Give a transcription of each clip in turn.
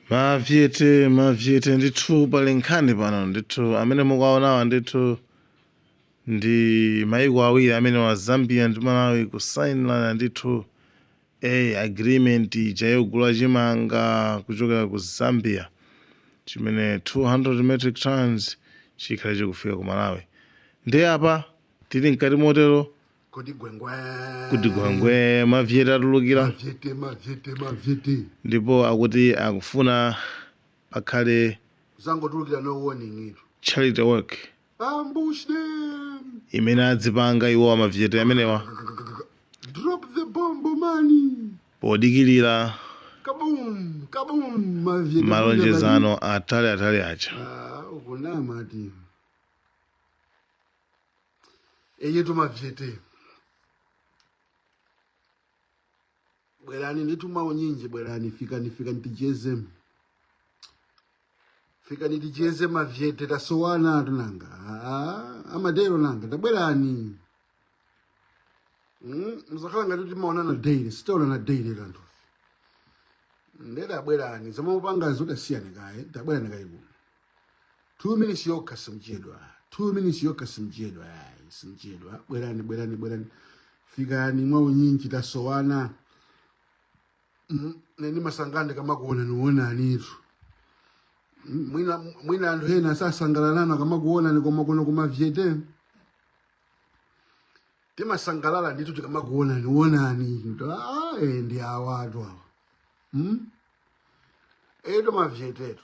Mavyete, mavyete ndithu pali nkhani pano ndithu amene mukuwaonawa ndithu ndi maiko awiri amene wa Zambia ndi Malawi kusainirana ndithu agreement ija yogula chimanga kuchokera ku Zambia chimene 200 metric tons chikhale chikufika ku Malawi. Ndiye apa tili mkati motero kodi gwengwe kuti gwangwe mavyete atulukira mavyete mavyete mavyete ndipo akuti akufuna pakhale zangotulukira no warning ito charity work ambush them imene adzipanga iwo amavyete amenewa drop the bomb mani podikirira kabum kabum mavyete malonjezano atali atali aja Ah, ukunama ati eyetu mavyete bwerani ndithu maunyinji bwerani fikani fikani ticheze fikani ticheze mavyete tasowanatu nanga Ah, amadero nanga tabwerani Mm, muzakhala ngati timaonana daily sitaonana daily kanthu nde tabwerani zomwe mukupangazo tasiyani kaye tabwerani kaye kuno 2 minutes yokha simchedwa 2 minutes yokha simchedwa ayi simchedwa bwerani bwerani bwerani fikani mwa unyinji tasowana Mm, ine ndimasangalala ndikamakuonanionanitu Mm, mwina mwina anthu ena sasangalala akamakuonani koma kuno kumavyete timasangalala ndithu tikamakuonanionani Ah, eh, ndi awatu awa mm? eetu mavyetetu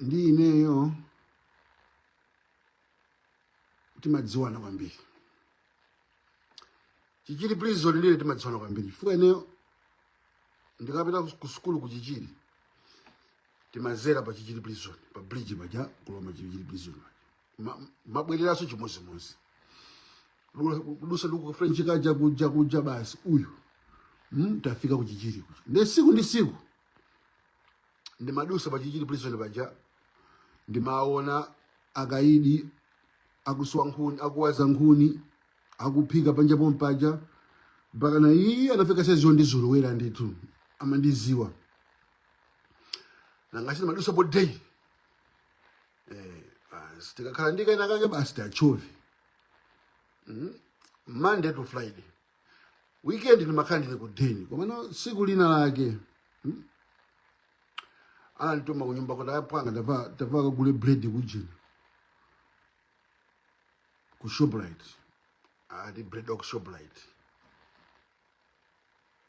ndi ineyo timadziwana kwambiri chichiri prison ndine timadziwana kwambiri chifukwa ineyo ndikapita ku sukulu ku chichiri timadzera pa chichiri prison pa bridge paja kulowa chichiri prison paja mabwereraso chimodzimodzi kudutsa ndi kufrench kaja kuja kuja basi uyu mm, tafika kuchichiri kuja nde tsiku ndi tsiku ndimadutsa pachichiri prison paja ndimaona akaidi akuswa nkhuni akuwaza nkhuni akuphika panja pompaja mpaka nawo anafika saizi yondizolowera ndithu amandidziwa nanga si ndimadutsa po day eh, basi tikakhala ndi kena kake basi tachove mm? monday to friday weekend ndimakhala ndili ku deni komano tsiku lina lake mm? anandituma kunyumba kuti apwanga tapita takagule bread kujina ku shoprite ati bread wa ku shoprite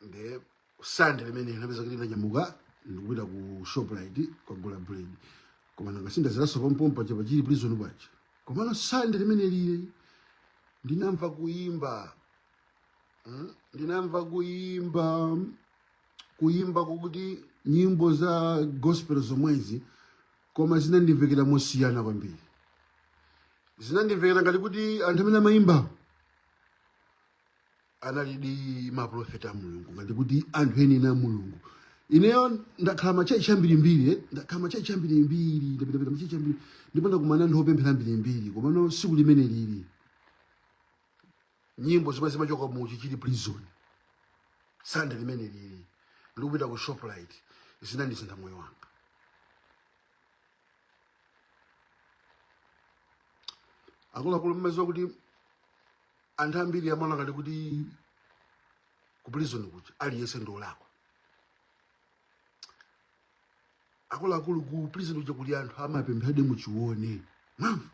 nde sande limenelo ndinapezeka kuti ndinanyamuka ndikupita ku shoprite kukagula bread koma nanga si ndadzeranso pompopa cha pa chichiri prison paja komano sande limene lija ndinamva kuyimba Mm, ndinamva kuyimba kuyimba kokuti nyimbo za gospel zomwezi koma zinandimvekera mosiyana kwambiri zinandimvekera ngati kuti anthu amene amayimbawo analidi maprofeti a mulungu ngati kuti anthu enieni a mulungu ineyo ndakhala machechi ambirimbiri eh, ndakhala machechi ambirimbiri ndapitapita machechi ambiri ndipo ndakumana anthu opemphera ambirimbiri komano siku limene lili nyimbo zimene zimachoka mu chichiri prison sande limene lili ndikupita ku shoprite zinandisintha moyo wanga akuluakulu mmaziwa kuti anthu ambiri amaona ngati kuti ku prison kuja aliyense ndi olakwa akuluakulu ku prison kuja kuli anthu amapempheradi muchione mwamva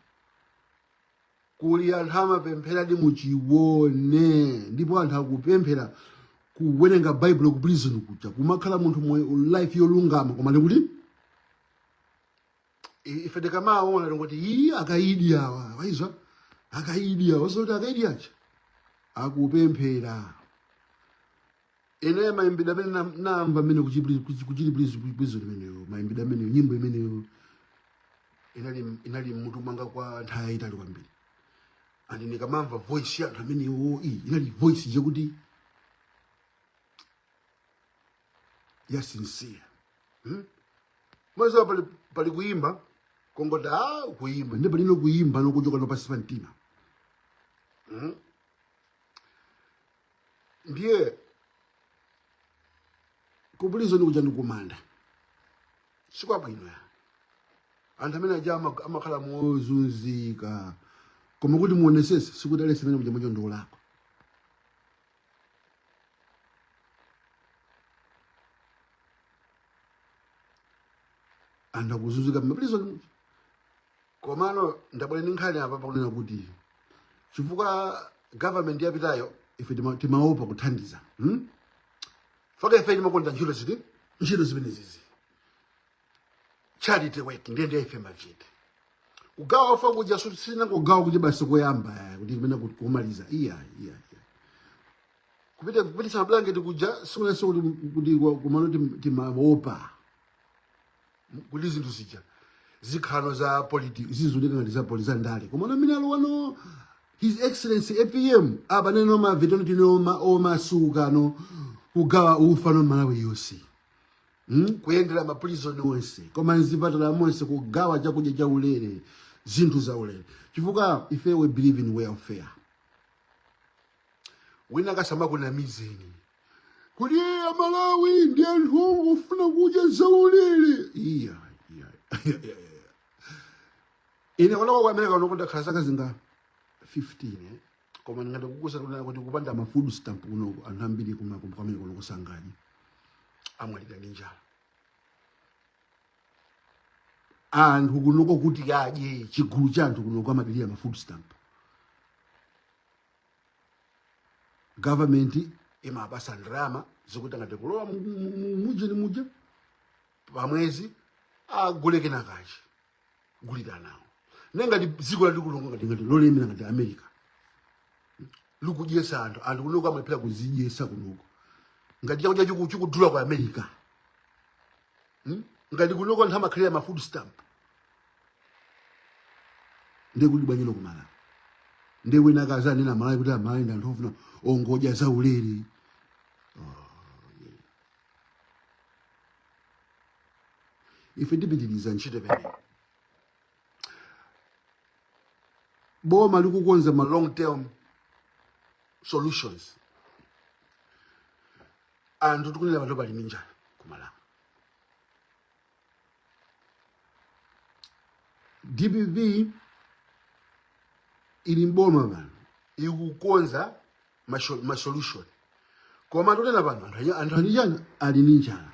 kuli anthu amapempheradi muchione ndipo anthu akupemphera kuwerenga baibulo ku prison kuja kumakhala munthu moyo life yolungama koma ndikuti ife tikamaona tingoti ii akaidi awa waizwa akaidi awa zoti akaidi acha akupemphera ine maimbidwe amene na- namva amene ku chichiri prison imeneyo maimbidwe ameneyo nyimbo imeneyo inali inali mmutu mwanga kwa nthawi yayitali kwambiri and ndikamamva voice ya anthu amenewo iyi inali voice yakuti ya sincere hmm? mmaziwa pali, pali kuyimba kongoti a kuyimba ndi palino kuyimba nokuchoka no pansi pa mtima hmm? ndiye ku prison kuja ndikumanda sikwabwino ya anthu amene aja ama- amakhala mozunzika koma kuti muonesese sikuti aliyense amene kuja mocho ndiolakwa anthu akuzunzika mmaprison umu komano ndabwera ndi nkhani apa pakunena kuti chifukwa government yapitayo ife tima- timaopa kuthandiza hmm? fukwa ife timakonda ntchito ziti ntchito zimenezizi charity work ndiye ndiye ife machete kugawa ufa kuja sina kugawa kuti basi koyamba eh, kuti kumene kumaliza iya iya kupita kupitisa mablanketi kuja sikunase kuti kuti komano timaopa kuti zinthu zija zikhala no za politics zizulika ngati za politi za ndale komano mmene alowa no his excellency apm abaneno mavetano tinoma omasuka no kugawa ufa no malawi yonse hmm? kuyendera maprison onse koma mzipatala monse kugawa chakudya cha ulere zinthu za ulere chifukwa ife we believe in welfare winawake asamakunamizeni kuti "Eh, amalawi ndi anthu ongofuna kudya za ulere iya iya iya, iya. ine kunoko ku amerika kunoku ndakhala zaka zinga 15 eh? koma ndingakuuze kuti kuti kupanda ma food stamp kuno anthu ambiri kumene kuno kusangani atamwalira ndi njala anthu kunoko kuti adye chigulu cha anthu kunoko amadalira ma food stamp government imapasa ndalama zoti ngati kulowa mujeni muja pamwezi agule kenakachi gulira nawo nde ngati dziko lalikulu nga ngati ngati lolemera ngati america likudyesa anthu anthu kunoko amalephera kuzidyesa kunoko ngati chakudya chiku- chikudula ku america Hmm? ngati kunoko anthu amakhalira ma food stamp ndiye kuti bwanji kumalawi ndiye wina akazanena malawi kuti amalawi ndi anthu ofuna ongodya zaulere ife tipitiriza ntchito imeneyi boma likukonza ma long term solutions anthu tikunena pano pali minjala kumalawi dpp ili mboma pano ikukonza masho- masolution koma tikunena pano anthu aja- anthu anyijanu ali ndi njala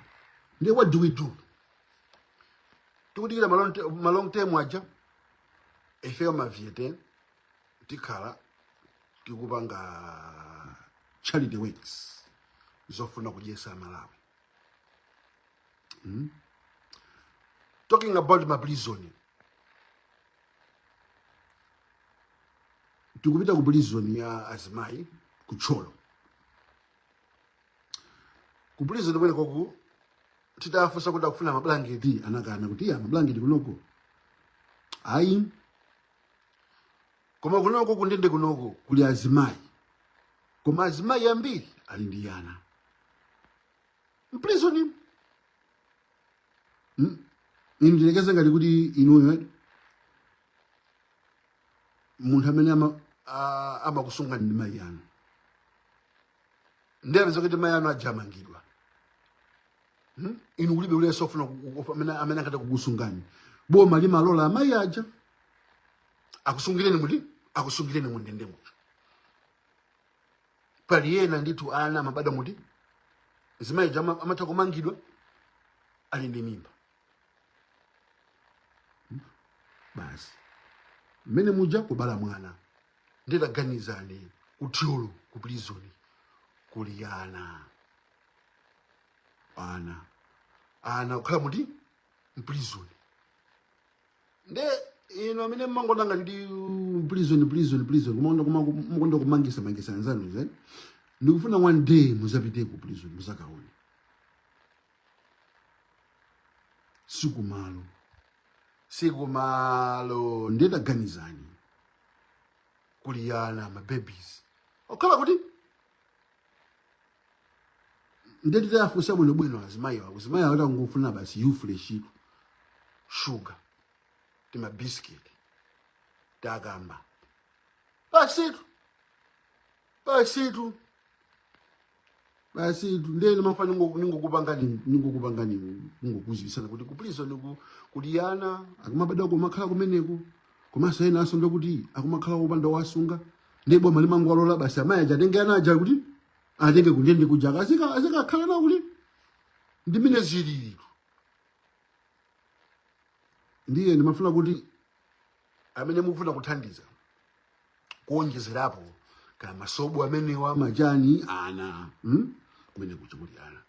ndiye what do we do tikudikira malong te- malong term aja ifeyo maviete tikhala tikupanga charity works zofuna kudyesa malawi talking about maprison tikupita ku prison ya azimayi ku thyolo ku prison kumeneko titafunsa kuti akufuna mablanketi anakana kuti iyayi mablanketi kunoko ayi koma kunoko kundende kunoko kuli azimayi koma azimayi ambiri ali ndi ana mprizoni hmm? yerekezani ngati kuti inuyo eh? munthu amene amakusungani ndi mayi anu ndiye apezeka kuti mayi anu aja amangidwa hmm? inu kulibe aliyense ofuna amene angathe kukusungani boma limalola amayi aja akusungireni muti akusungireni mundendemo pali ena ndithu ana amabadwa muti azimayiwo ama- amatha kumangidwa ali ndi mimba basi mmene muja kubala mwana ndiye taganizani kuthyolo ku prizoni kuli ana ana ana kukhala muti mprizoni nde inu amene mmangoona ngati ndi prison prison prison kumaona kuma- mumakonda kumangisa mangisa anzanu zeni ndikufuna one day muzapite ku prison muzakaone sikumalo sikumalo ndiye taganizani kuliyana mababies okhala kuti nde titayafunsa bwinobwino azimayi awo azimayi awo tangofuna basi yufuleshitu shuga timabisiketi takamba basitu basitu basi nde nimafuna ningokupanga ni- ningokupanga ni- ningokuziwisani kuti kuprisoniku kuli ana akumabadwa kumakhala kumeneko komanso ena asonda kuti akumakhala opanda owasunga nde boma limangowalola basi amayi aja atenge ana aja kuti atenge kundende kuja azika- azikakhala nawo kuti ndi mmene zilili ndiye ndimafuna kuti amene mukufuna kuthandiza kuonjezerapo kaya masobo amenewa machani ana hmm? kumene kuja kuli ana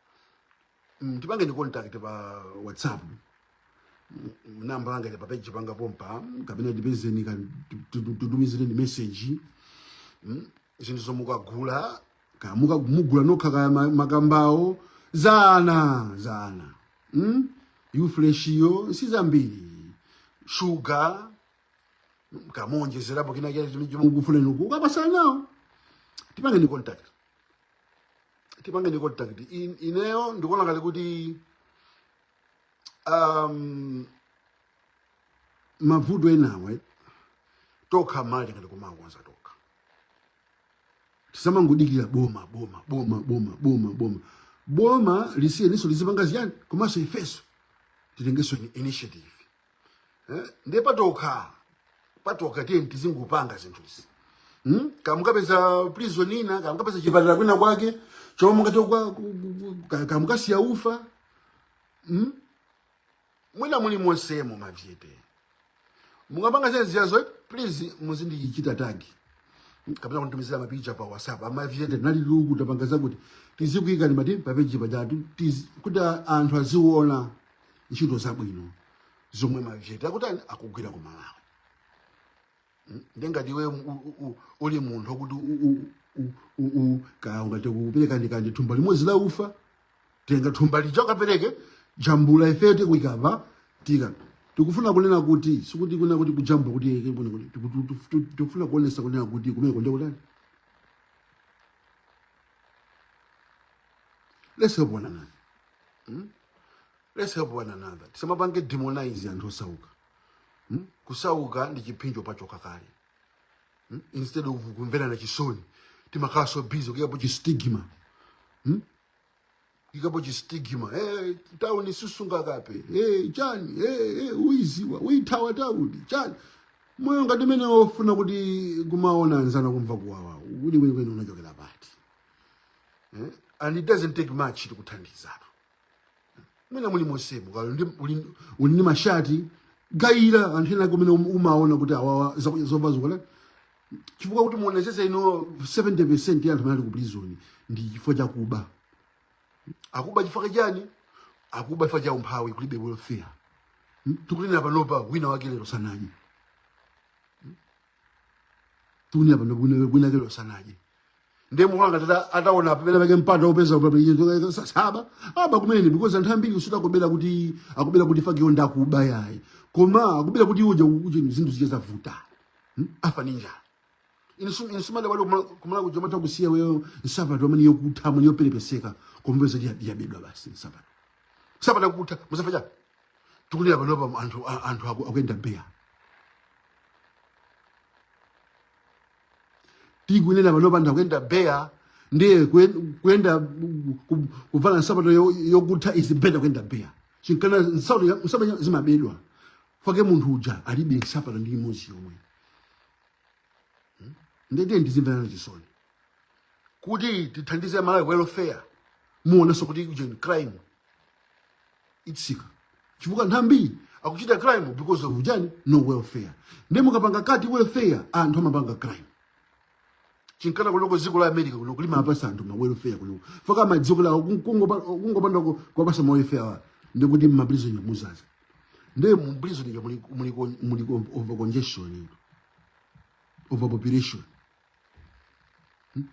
Mm, tipangeni contact pa whatsapp Mm, namba langa ili pa page panga pompa mm, kapena ndipezeni ka- tu- tu- tu- titumizireni message Mm, zinthuzo mukagula ka muka- mugula nokha kaya ma- makambawo zana zana mm? yufleshiyo si zambiri shuga mm, kaya muonjezerapo kina chimene chimene mukufuna kukapasa anawo tipangeni contact tipangeni contact In- ineyo ndikuona ngati kuti um, mavuto enawe tokha amalawi tingathe kumakonza tokha tisamangodikira boma boma boma boma boma boma boma lisiyeniso lizipanga ziyani komanso ifeso titengeso ni initiative eh? ndiye patokha patokha tiyeni tizingopanga zinthuzi hmm? kaya mukapeza prison ina kaya mukapeza chipatala kwina kwake chomwe mungathe kwa- ku- ku- ku- kaya mukasiya ufa hmm? mwina muli monsemo mavyete mukapanga zene ziyazo please muzindichita tagi kapena kunitumizira mapicha pa whatsapp amavyete nali luku tapanga zakuti tizikuikani mati papeji pajatu tizi- kuti anthu aziona ntchito zabwino zomwe mavyete akutani akugwira ku malawi Mm, nde ngati iwe u- u- u- uli munthu wakuti kaya ungathe kupereka ndikandi thumba limodzi la ufa tenga thumba lija ukapereke jambula ifeyo tikuyika apa tika tikufuna kunena kuti sikuti kunena kuti kujambula kuti yeke kuno kuti tiku- tu- tu- tu- tikufuna kuonesa kunena kuti kumene kunde kutani let's help one another hmm? let's help one another tisamapange demonize anthu osauka hmm? kusauka ndi chiphinjo pachokha kale hmm? instead of kumverana chisoni timakhala so busy kuikapo chistigma hmm? ikapo chistigma hey, tauni sisunga kape hey, chani hey, hey, uiziwa uithawa tauni chani moyo ngati mene ofuna kuti kumaona anzanu akumva kuwawa kuli kweni kweni unachokera pati eh? and it doesn't take much to kuthandizana mwina muli monsemo kalo ndi uli- uli ndi mashati gayira anthu ena kumene um- umaona kuti awawa zovala zokutha chifukwa kuti muonetsetse you know 70 percent ya anthu amene ali ku prison ndi chifukwa chakuba akuba chifukwa chani akuba chifukwa cha umphawi kulibe welfare Hmm? tikunena panopa wina wake lero sanadye tikunena panopa wina- wina wake lero sanadye ndiye mukuona ngati ata- ataona pamene pake mpata opeza papechizo saaba aba kumene because anthu ambiri sikuti akubera kuti akubera kuti chifukwa iwo ndi akuba yayi koma akubera kuti uje uje zinthu zija zavuta Hmm? afa ni njala inisumale wali kumala kuja mata kusiya wewe nsapato amene yokutha amene yoperepeseka kupeza ndi yabedwa basi nsapato nsapato yokutha musafaja tikunena panopa anthu a- anthu aku- akuyenda beya tikunena panopa anthu akuyenda beya ndiye kuyen- kuyenda ku- ku- kuvala nsapato yo- yokutha is better kuyenda beya chinkana nsapato ya- nsapato ya- zimabedwa chifukwa munthu uja alibe nsapato ndi imodzi yomwe ndiye tiyeni tizimverana chisoni kuti tithandize malawi welfare muonanso kuti ujeni crime itsika chifukwa anthu ambiri akuchita crime because of chani no welfare ndiye mukapanga cut welfare anthu amapanga crime chinkana kunoko dziko la america kuno kuli amapasa anthu ma welfare kunoko chifukwa mdziko lawo kungopanda kuwapasa ma welfare awa ndikuti mmaprisonyo mudzaza ndiye muprisonyo muliko muliko overcongestion overpopulation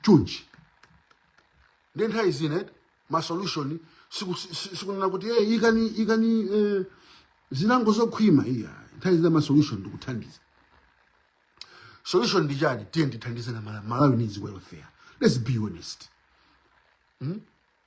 chonchi ndiye nthawi zina eh, ma solution siku- si- si- sikunena kuti eh, ikani ikani eh, zilango zokhwima iyayi nthawi zina ma solution ndikuthandiza solution ndi chani tiyeni tithandizane Mala- malawi needs welfare let's be honest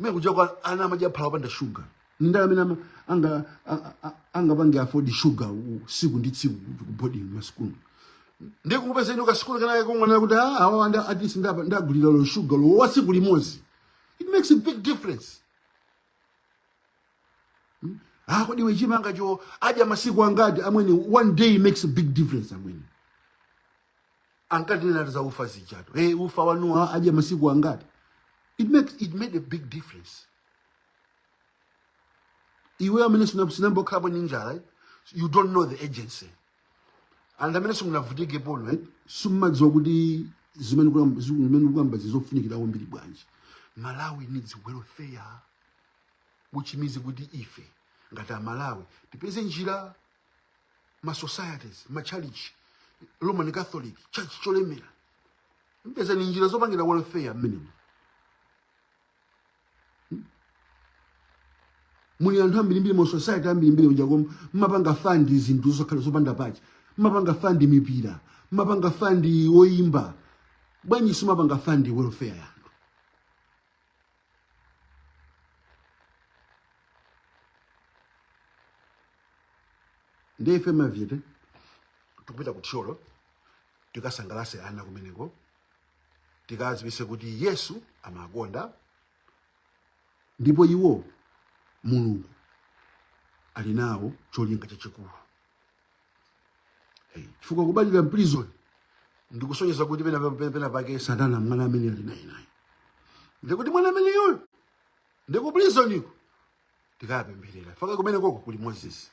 mene kuja kwa ana amadya phala opanda shuga ndi ndani amene ama- anga a- a- angapange afford shuga u- tsiku ndi tsiku kubodi masukulu ndiye kupeza you know kasukulu kenake kungonena kuti "Ah, awa ana at least ndapa- ndagulira olo shuga olo wa tsiku limodzi it makes a big difference ah kodi iwe chimangacho adya masiku angati amwene one day makes a big difference amwene ankatinena za ufa zijatu hey, ufa wanuwo adya masiku angati it, makes, it made a big difference iwe amene sina- sinayamba kukhalapo ndi njala eh, you don't know the urgency and amene simunavutikepo eh, simumadziwa kuti zimene kuyamba- ziku- zimene kuyamba nzofunikira kwambiri bwanji malawi needs welfare which means kuti ife ngati amalawi tipeze njira ma societies ma church roman catholic church yolemera pezani njira zopangira welfare minimum muli anthu ambirimbiri mu society ambirimbiri uja koma mmapanga fund zinthu zokhala zopanda pake mmapanga fund mipira mmapanga fund oyimba bwanji simmapanga fund welfare yanu ndiye ife mavide tikupita ku thyolo tikasangalatse ana kumeneko tikadziwitse kuti yesu amawakonda ndipo iwo mulungu ali nawo cholinga chachikulu Hey, chifukwa kubadwira mprison ndikusonyeza kuti pena pena- pena pake satana mwina amene ali naye naye ndikuti mwana ameneyoyo ndikuprisoniko tikapempherera paka kumene koko kuli moses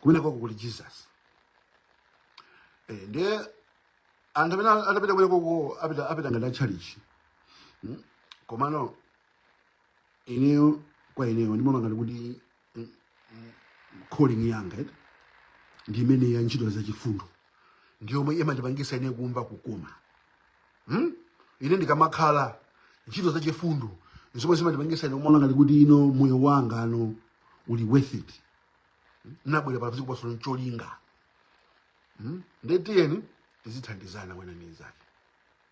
kumene koko kuli jesus Eh, ndiye anthu amene atapite kumene koko apita apita ngati atchalichi komano ineyo kwa ineyo ndimaona ngati kuti calling yanga eti ndi imeneyi ya ntchito za chifundo ndi yomwe imandipangitsa ine kumva kukoma hmm? ine ndikamakhala ntchito za chifundo zomwe zimandipangitsa ine kumaona ngati kuti inde moyo wanga uno uli worth it nnabwera pa dziko pano ncholinga hmm? nde tiyeni tizithandizana wina ndi nzake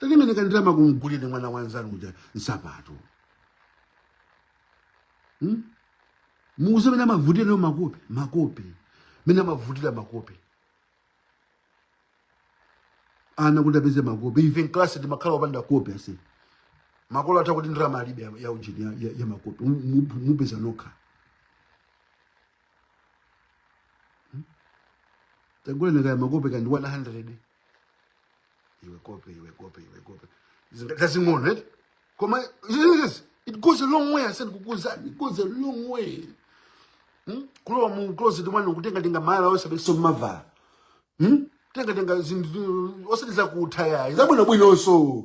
tatengeni ka ndalama kamgulireni mwana wa nzanu uja nsapato hmm? muuze mene amavutira nayo makope makope mene amavutira makope ana kuti apeze makope ife nklasi mumakhala opanda kope ati makolo ati kuti ndalama alibe ya- ya ujeni ya, ya, ya makope Mu- mu- mupeza nokha tagulani kaya makope kaya ndi 100 iwe kope iwe kope iwe kope zing'onozing'ono eti koma yes it goes a long way ndikukuuzani it goes a long way hmm? kulowa mu closet mwanu kutenga tenga malaya oti simuvala hmm? tenga tenga zinthu osati zakutha yayi zabwinobwinonso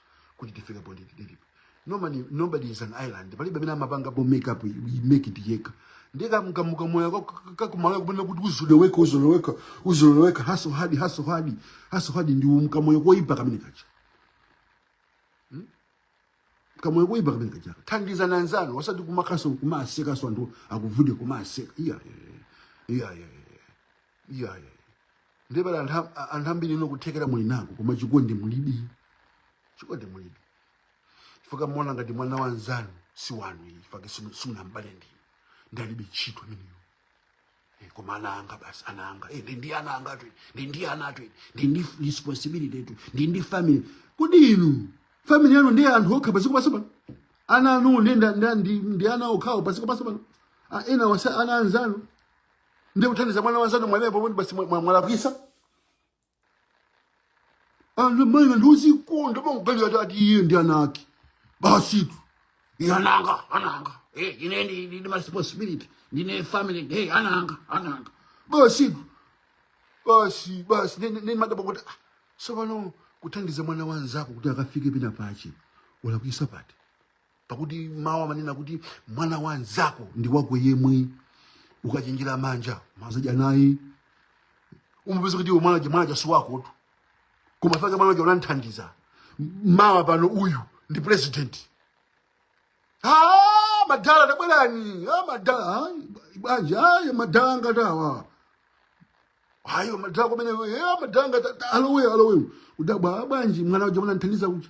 kuti tifika poti tilipo nobody nobody is an island palibe wina amapanga po make up we make it yeka ndika mkamuka moyo ka- ka kumala kubona kuti uzoloweka uzoloweka uzoloweka hustle hard hustle hard hustle hard ndi umka moyo koipa kamene kacha kamoyo koipa kamene kacha thandiza na nzanu wasati kumakaso kumaseka so anthu akuvude kumaseka iya iya iya iya iyayi ndiye pali anthu a- anthu ambiri ino kuthekera muli nako koma chikondi mulibe chikondi mulibe chifukwa muona ngati mwana wa nzanu si wanu iyi chifukwa simu- simunabale ndinu ndalibe ntchito imeneyo Eh, koma ana anga basi ana anga Eh, ndi ndi ana anga tu ndi ndi ana tu ndi ndi responsibility tu ndi ndi family kodi inu family yanu ndi anthu okha pasi kupasa pano ana anu ndi nda- nda- ndi ndi ana okhawo pasi kupasa pano Ah, ena wasa ana anzanu ndiye kuthandiza mwana wanzanu mwanayo pomwe basi mwa- mwa- mwalakwisa ana maina ndiuzikonda panguganiza ati ati iye ndi ana ake basitu iye ananga ananga Eh, ine ndi- ndine maresponsibility ndine family hey, ananga ananga basitu basi basi ne- ne- ne madaba kuti ah, tsopano kuthandiza mwana wanzako kuti akafike pina pache ulakwisa pati pakuti mawu amanena kuti mwana wa nzako ndi wako yemwe ukachenjera manja uzadya naye umapeza kuti iwe mwanaja mwanaja si wakotu koma fake mwanaja unamthandiza mawa pano uyu ndi president Ah, madala tabwerani Ah, madala ah, bwanji ayi madala ngati awa ayo madala kumene eh, madala ngati alowe alowe udabwa bwanji mwana uja unamthandiza uja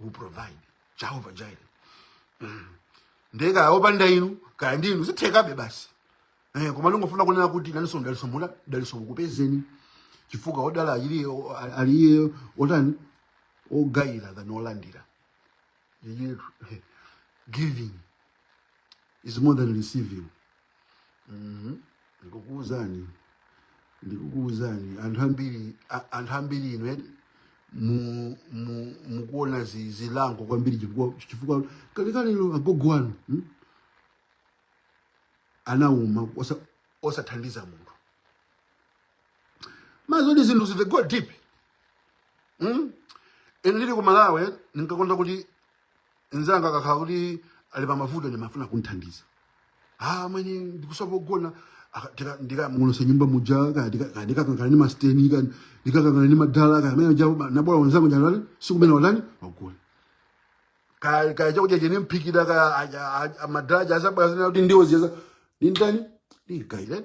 will provide jehova jireh ndiye kaya opanda inu kaya ndi inu zithekabe basi eh, koma ndingofuna kunena kuti nanunso daliso mula daliso likupezeni chifukwa odala ali iye ali iye otani ogayira than olandira Iye- giving is more than receiving Mhm. ndikukuwuzani ndikukuwuzani anthu ambiri a- anthu ambiri inu eni mu- mu- mukuona zi- zilango kwambiri chifukwa chifukwa kalekalelo agogo wanu mm, anauma osa- osathandiza munthu mwa zoti zinthu zi go deep mm? ine ndili ku malawi ndinkakonda kuti Nzanga akakhala kuti ali pa mavuto ndimafuna kumthandiza. Ah, amwene ndikusowa pogona aka- tika- ndikagonetse nyumba muja kaya tika- kaya ndikakangana ndi masteni kaya ndikakangana ndi madala kaya amene aja nabwera wanzangu njala si kumene wanani wagula kaya kaya chakudya cheni mphikira kaya aja- aja- madala aja asabwera zina kuti ndiwo ziyaza ndintani ndikaile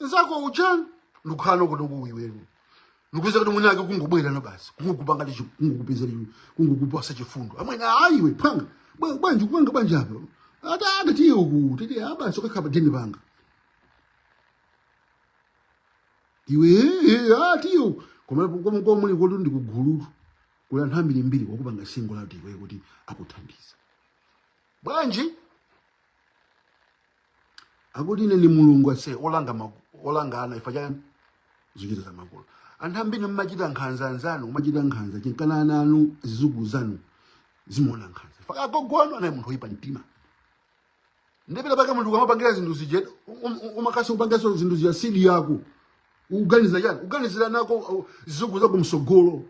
nzako uchani ndikukhala konkuno iwenu ndikuuza kuti mwinake kungobwera no basi kungokupanga ndi chi- kungokupezera iwe kungokupasa chifundo amwene ayi iwe phanga bwa- bwanji kupanga bwanji apo ata ata tiye uku titi abasi ukakhapa dini panga iwe eh, ah, tiye uku koma koma koma muli kuti ndikugulutu kuli anthu ambiri mbiri wakupanga singo lati iwe kuti akuthandiza bwanji akuti ine ni mulungu ase olanga maku- olanga ana ifa cha zochita za makolo anthu ambiri mmachita nkhanza anzanu kumachita nkhanza chinkana ana anu zizukulu zanu zimaona nkhanza ifa ka agogo anu anali munthu oyipa mtima ndiye patapaka munthu ukamapangira zinthu zije um- um- umakasi upangiranso zinthu zija sidi yako ukuganiza chani ukuganizira ana ako uh, zizukulu zako msogolo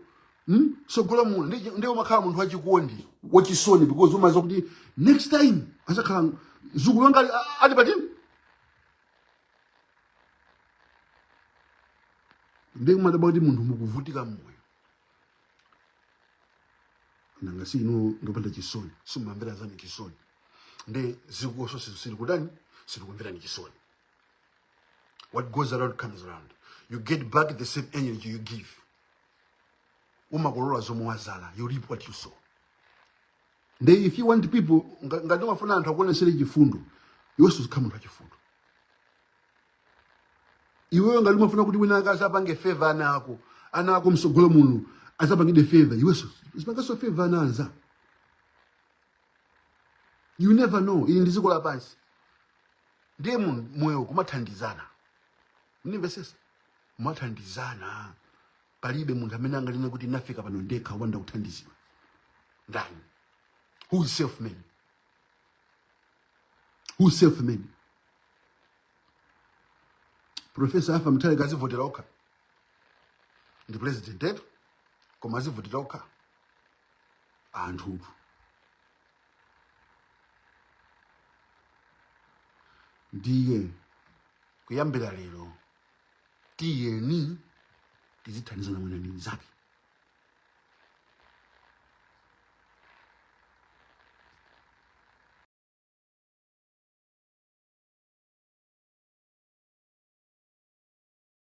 hmm? sogolo muno ndiye ndiye umakhala munthu wachikondi wachisoni because umaziwa kuti next time azakhala zukulu wanga ali- a- ali patini ndiye kumadabwa kuti munthu mukuvutika mmoyo nanga si inu ndopanda chisoni simumamvera anzanu chisoni ndiye ziko nalonso sili kutani sili kumverani chisoni what goes around comes around you get back the same energy you give umakolola zomwe wazala you reap what you sow nde if you want people nga- ngati umafuna anthu akuonesere chifundo iwenso uzikhala munthu wachifundo iwewe ngati umafuna kuti wina ake azapange feva ana ako ana ako msogolo muno azapangidwe feva iwenso uzipanganso feva ana anzako you never know ili ndi dziko lapansi ndiye mu- moyo kumathandizana mundimvesesa kumathandizana palibe munthu amene anganene kuti nafika pano ndekha wopanda kuthandizidwa ndani who is self made who is self made profesa Arthur Mutharika anazivotera okha ndi president yetu koma anazivotera okha anthu ndiye kuyambira lero tiyeni tizithandizana wina ndi mnzake